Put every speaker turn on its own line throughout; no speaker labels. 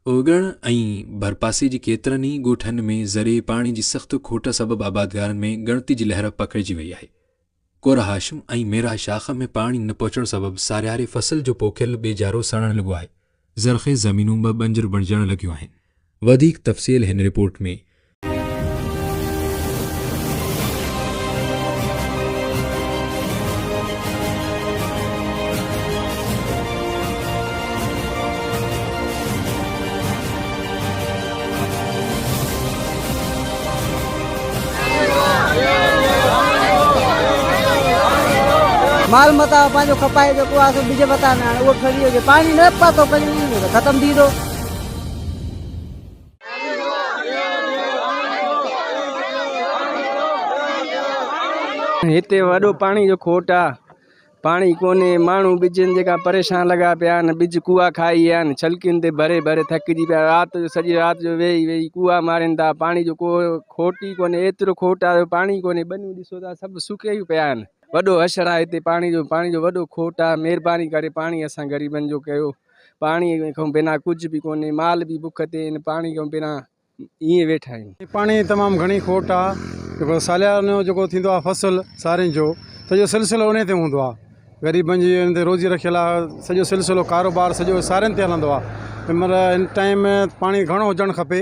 اوڳڻ ۽ ڀرپاسي جي ڪيترن ئي ڳوٺن ۾ ذريعي پاڻي جي سخت کوٽ سبب آبادگارن ۾ ڳڻتي جي لهر پکڙجي وئي آهي. ڪورهاشم ۽ ميراه شاخ ۾ پاڻي نه پهچڻ سبب سارياري فصل جو پوکيل ٻيجارو سڙڻ لڳو آهي. زرخيز زمينون به بنجر بڻجڻ لڳيون آهن. وڌيڪ تفصيل هن رپورٽ ۾.
مال متاع پنهنجو کپائي جيڪو آهي سو ٻج وتان ۾ آڻي اهو ٺري هجي پاڻي نه پاتو ڪجهه ختم ٿي ويندو
هتي وڏو پاڻي جو کوٽ آ پاڻي ڪوني ماڻهو ٻجن جيڪا پريشان لڳا پيا آهن ٻج ڪوئا کائي ويا آهن ڇلڪين تي ڀري ڀري ٿڪجي پيا رات جو سڄي رات جو ويهي ويهي ڪوئا مارين ٿا پاڻي جو ڪو کوٽ ئي ڪوني ايترو کوٽ آ جو پاڻي ڪوني ٻنيون ڏسو ٿا سڀ سڪي پيا آهن وڏو حشر آ هتي پاڻي جو پاڻي جو وڏو کوٽ آ مهرباني ڪري پاڻي اسان غريبن جو ڪيو پاڻي کان بنا ڪجهه به ڪونهي، مال به بک تي آهن، پاڻي کان بنا ائين ويٺا آهيون. پاڻي جي تمام گهڻي
کوٽ آ، جيڪو ساليانو جو جيڪو ٿيندو آ فصل سارين جو سڄو سلسلو انهي تي هوندو آ، غريبن جي ان تي روزي رکيل آ، سڄو سلسلو ڪاروبار سڄو سارين تي هلندو آ، تنهن مهل ان ٽائيم پاڻي گهڻو هجڻ کپي.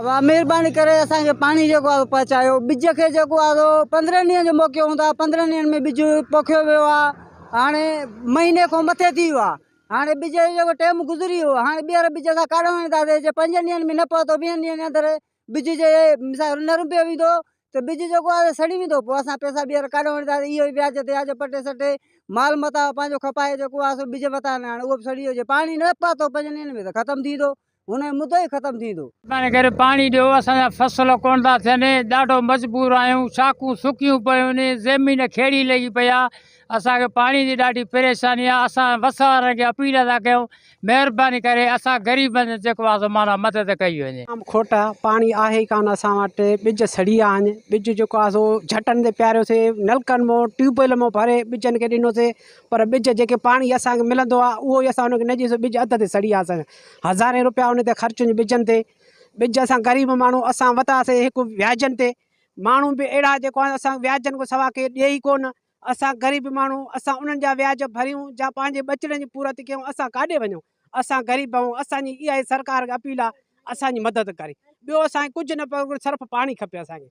ابا مھرباني ڪري
اسان کي پاڻي جيڪو آھي سو پھچايو ٻج کي جيڪو آھي سو پندرهن ڏينهن جو موقعو ھوندو آھي پندرهن ڏينهن ۾ ٻج پوکيو ويو آھي ھاڻي مھيني کان مٿي ٿي ويو آھي ھاڻي ٻج جو جيڪو ٽيم گذري ويو ھاڻي ٻيھر ٻج اسان ڪاڏو وڃي ٿا سگھون جي پنجن ڏينهن ۾ نه پھتو ويھن ڏينهن جي اندر ٻج جي مثال نه رنبيو ويندو ته ٻج جيڪو آھي سو سڙي ويندو پوء اسان پيسا ٻيھر ڪاڏو وڃي ٿا اھو ئي وياج تي وياج پٽي سٽي مال متاع پنھنجو کپائي جيڪو آھي سو ٻج وتان آڻي اھو به سڙي ويو جي پاڻي نه پھتو پنجن ڏينهن ۾ ته ختم ٿي ويندو هونئن مدو ئي ختم ٿيندو. مهرباني ڪري پاڻي
ڏيو اسان جا فصل ڪونه ٿا ٿين ڏاڍو مجبور آهيون شاخون سڪيون پيون زمين کيڙي لڳي پئي آهي اسان کي پاڻي جي ڏاڍي پريشاني آهي اسان وس وارن کي اپيل ٿا ڪيون مهرباني ڪري اسان غريبن جي جيڪو آهي سو معنيٰ مدد ڪئي وڃي. جام کوٽ آهي پاڻي
آهي ئي ڪانه اسان وٽ ٻج سڙي ويا آهن ٻج جيڪو آهي سو جهٽن تي پياريوسي نلڪن مون ٽيوب ويل مون ڀري ٻجن کي ڏنوسي پر ٻج جيڪي پاڻي اسان کي ملندو آهي اهو ئي اسان ان کي نه ڏيئي سو ٻج اڌ تي سڙي ويا آهن اسان جا هزارين روپيا ان تي خرچ هن ٻجن تي ٻج اسان غريب ماڻهو اسان وتاسي هڪ وياجن تي ماڻهو به اهڙا جيڪو آهن اسان وياجن کان سوا ڪي ڏئي ئي ڪونه اسان غريب ماڻهو اسان انهن جا وياج ڀريون جا پنهنجي ٻچڙن جي پورت ڪيون اسان ڪاڏي وڃون اسان غريب آهيون اسان جي اها ئي سرڪار کي اپيل آهي اسان جي مدد ڪري ٻيو اسان کي ڪجهه نه پيو صرف پاڻي کپي اسان کي